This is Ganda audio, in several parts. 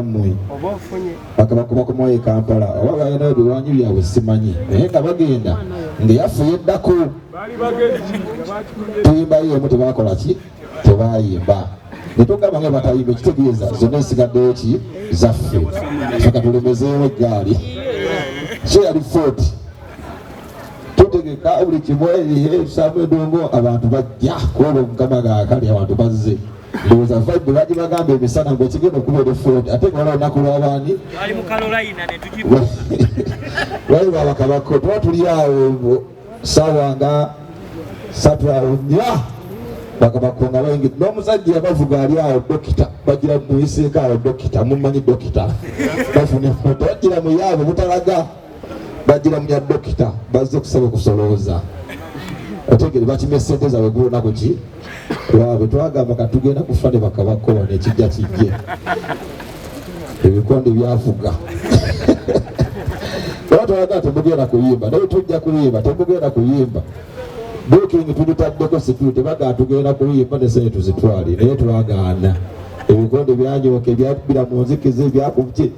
mwe bakabakuba ku mwoyo ekampala oba balina ebiwanyi byabwe simanyi naye nga bagenda nga yafuye eddako tuyimbayo emu tebakola ki tebayimba netugamba nga batayimba ekitegeeza zonna esigaddeyo ki zaffe feka tulemezeewo eggaali so yali foti tutegeka buli kimu ebihe ebisamu edongo abantu bajja kuba mukama gaakali abantu bazze ndowooza vibe bagibagamba emisana nga ekigenda okuba olufuloti ate nga wala olunaku lwabaani wali babakabako tuba tuli awo sawa nga satu awo nya bakabako nga baingi n'omusajja yabavuga ali awo dokita bagira muyiseeko awo dokita mumanyi dokita bafuna foto bagira muyaabo butalaga bajira munya dokita bazze kusaba kusolooza otegere bakimye sente zaabwe gulunaku ki lwabwe twagamba ka tugenda kufa ne bakabakola nekijja kijje ebikonde byafuga era twalaga temugenda kuyimba naye tujja kuyimba temugenda kuyimba buking tugitaddeko situte baga tugenda kuyimba nesente tuzitwali naye twagaana ebikonde byanyoka ebyabbira mu nzikiza ebyakuki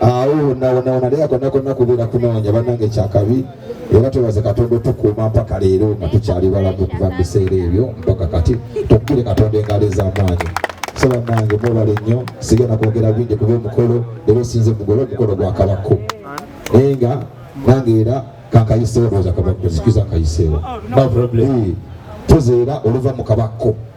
awo wonawonawona naye akonakonna kubeera kunoonya banange kyakabi era twebaze katonda otukuuma mpaka leero nga tukyali balamu okuva mu biseera ebyo mpaka kati tukukire katonda engalo ez'amaanyi so banange mwebale nnyo sigenda kwogera bingi kuba omukolo era osinze mugole omukolo gwa kabakko naye nga nange era kankayiseewo lwoza kabakko zikiza nkayiseewo tuzeera oluva mu kabakko